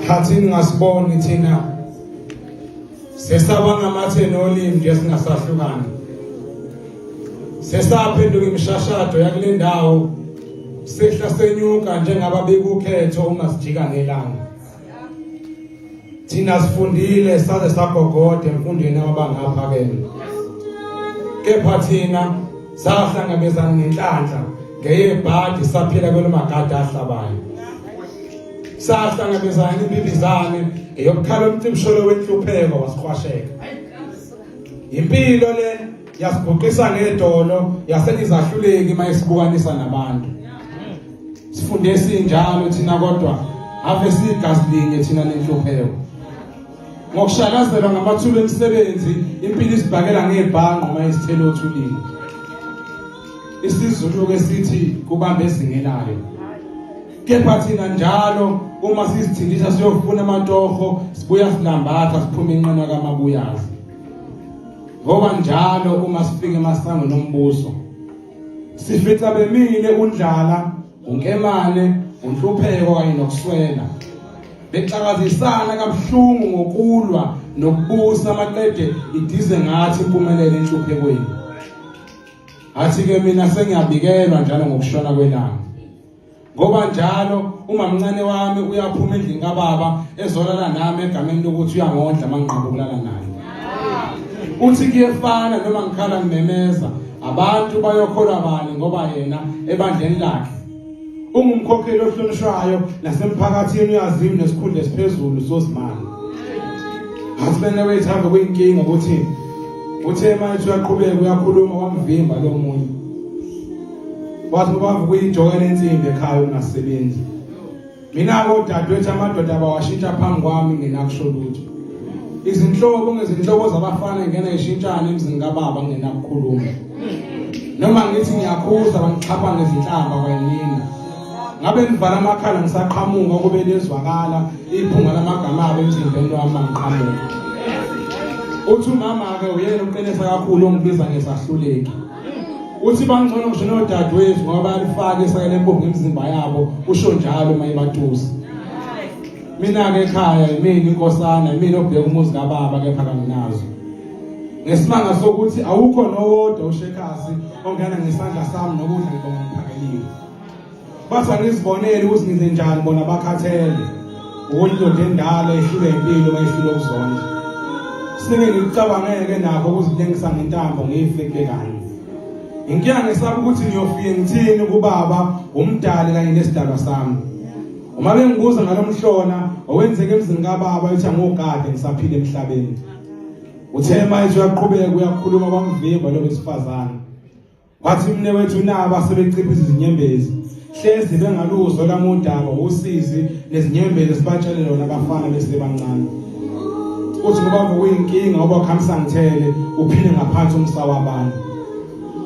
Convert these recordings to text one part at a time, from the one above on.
khathini ngasiboni thina sesaba ngamatheni olimi nje singasahlukani sesaphenduka imishashado yakule ndawo sehla senyuka njengaba bekukhetho uma sijika ngelanga thina sifundile saze sagogoda emfundweni abangapha ke kepha thina sahlangabezana nenhlanhla ngeyebhadi saphila kwelimagadi ahlabayo sahlangabezana impindizane eyokukhala umcimsholo wenhlupheko wasiqwasheka impilo le yasibhuqisa ngedolo yasenizahluleki uma isibukanisa nabantu sifunde esinjalo thina kodwa ave siyigazi linye thina nenhlupheko ngokushakazelwa ngamathuba emisebenzi impilo isibhakela ngebhanqo uma isithelo othulile isizulu ke sithi kubamba ezingelayo kepha thina njalo uma sizithindisa siyofuna amatoho sibuya silambatha siphuma inqina kamabuyazi Ngoba njalo uma sifika emasangweni ombuso sifitha bemile undlala, unkemane, unhlupheko kanye nokuswela. Bexakazisana kabuhlungu ngokulwa nokubusa amaqede idize ngathi impumelelo enhluphekweni. Athi ke mina sengiyabikelwa njalo ngokushona kwelanga. ngoba njalo umamncane wami uyaphuma endlini kababa ezolala nami egameni lokuthi uyangondla manqaba ukulala naye uthi kuyefana noma ngikhala ngimemeza abantu bayokholwa bani ngoba yena ebandleni lakhe ungumkhokheli ohlonishwayo nasemphakathini uyaziwa nesikhundla esiphezulu sozimali asibene wethambe kuyinkinga ukuthi uthe manje uyaqhubeka uyakhuluma wamvimba lo munye wathi ubaba ukuyijokela insimbi ekhaya ungasebenzi mina kodadewethu amadoda bawashintsha phambi kwami ngenakusho lutho izinhlobo ngezinhlobo zabafana ngena ishintshana emzini kababa ngenakukhuluma noma ngithi ngiyakhuza bangixhapha ngezinhlamba kwanina ngabe nivala amakhala ngisaqhamuka kube lezwakala iphunga lamagama abo emzimbeni wami mangiqhamuka uthi umama-ke uyena uqinisa kakhulu ongibiza ngesahluleki uthi bangcono ngisho nodadewethu ngoba bayalifaka isaka lempuphu ngemizimba yabo usho njalo uma ibatusa mina-ke ekhaya yimina inkosana yimina obheka umuzi kababa kepha kanginazo ngesimanga sokuthi awukho nowodwa ushekhazi ongena ngesandla sami nokudla ngibonga ngiphakeliwe Basa ngizibonele ukuthi ngize njani bona bakhathele. Ukuthi ndoda endala ehlule impilo mayehlule ukuzondla. Sike ngicabangeke nakho ukuzihlengisa ngentambo ngife kubekanye. Inkinga ngisaba ukuthi ngiyofike ngithini kubaba umdali kanye nesidalwa sami. Uma bengibuza ngalomhlona owenzeke emzini kababa ethi angogade ngisaphile emhlabeni. Uthe manje uyaqhubeka uyakhuluma kwamvimba lo wesifazane. Wathi umnewethu nabo asebeciphisa izinyembezi hlezi bengaluzwa lamudaba usizi nezinyembezi sibatshele lona abafana besebancane uthi ngoba kuyinkinga ngoba khamisa ngithele uphile ngaphansi umsa wabantu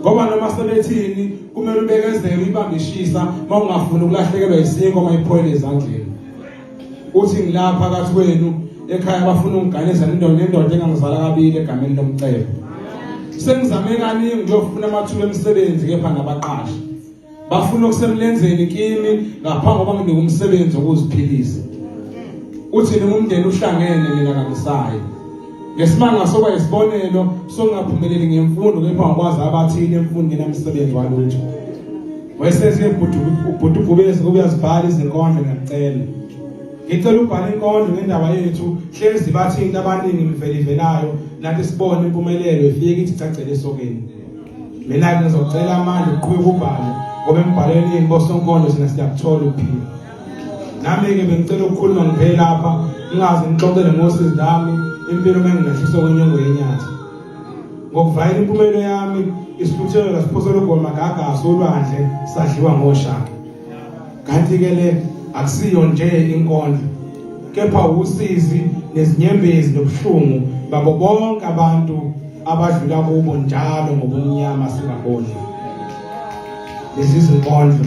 ngoba noma sebethini kumele ubekezele uyibambishisa uma ungafuni ukulahlekelwa yisinko uma iphoyile ezandleni uthi ngilapha phakathi kwenu ekhaya bafuna ungiganisa nendoda nendoda engangizala kabili egameni lomcebo sengizame kaningi ngiyofuna amathuba emisebenzi kepha ngabaqashi bafuna okusemlenzeni kimi ngaphambi kokuba nginike umsebenzi wokuziphilisa uthi noma umndeni uhlangene mina kangisayi ngesimanga soba isibonelo songaphumeleli ngemfundo kepha ngikwazi abathile emfundweni emsebenzi walutho Wesesi ubhuti ubhuti ubhubesi kube yazibhala izinkondlo ngiyacela. Ngicela ubhala inkondlo ngendaba yethu hlezi bathi into abaningi mvelivelayo nathi sibone impumelelo ifike ithi cacele esokeni. Mina ngizocela amandla uqhubeka ubhala ngoba embhalweni yini bosonkondlo sina siyakuthola ukuphila. Nami ke bengicela ukukhuluma ngiphela lapha ngingazi ngixoxele ngosizi lami impilo mengilahlisa kwenyongo yenyathi. ngokuvayela impumelo yami isihluthelo lasiphosela ugoma gagasi olwandle sadliwa ngoshaka kanti-ke le akusiyo nje inkondlo kepha wusizi nezinyembezi nobuhlungu babo bonke abantu abadlula kubo njalo ngobumnyama singaboni lezi zinkondlo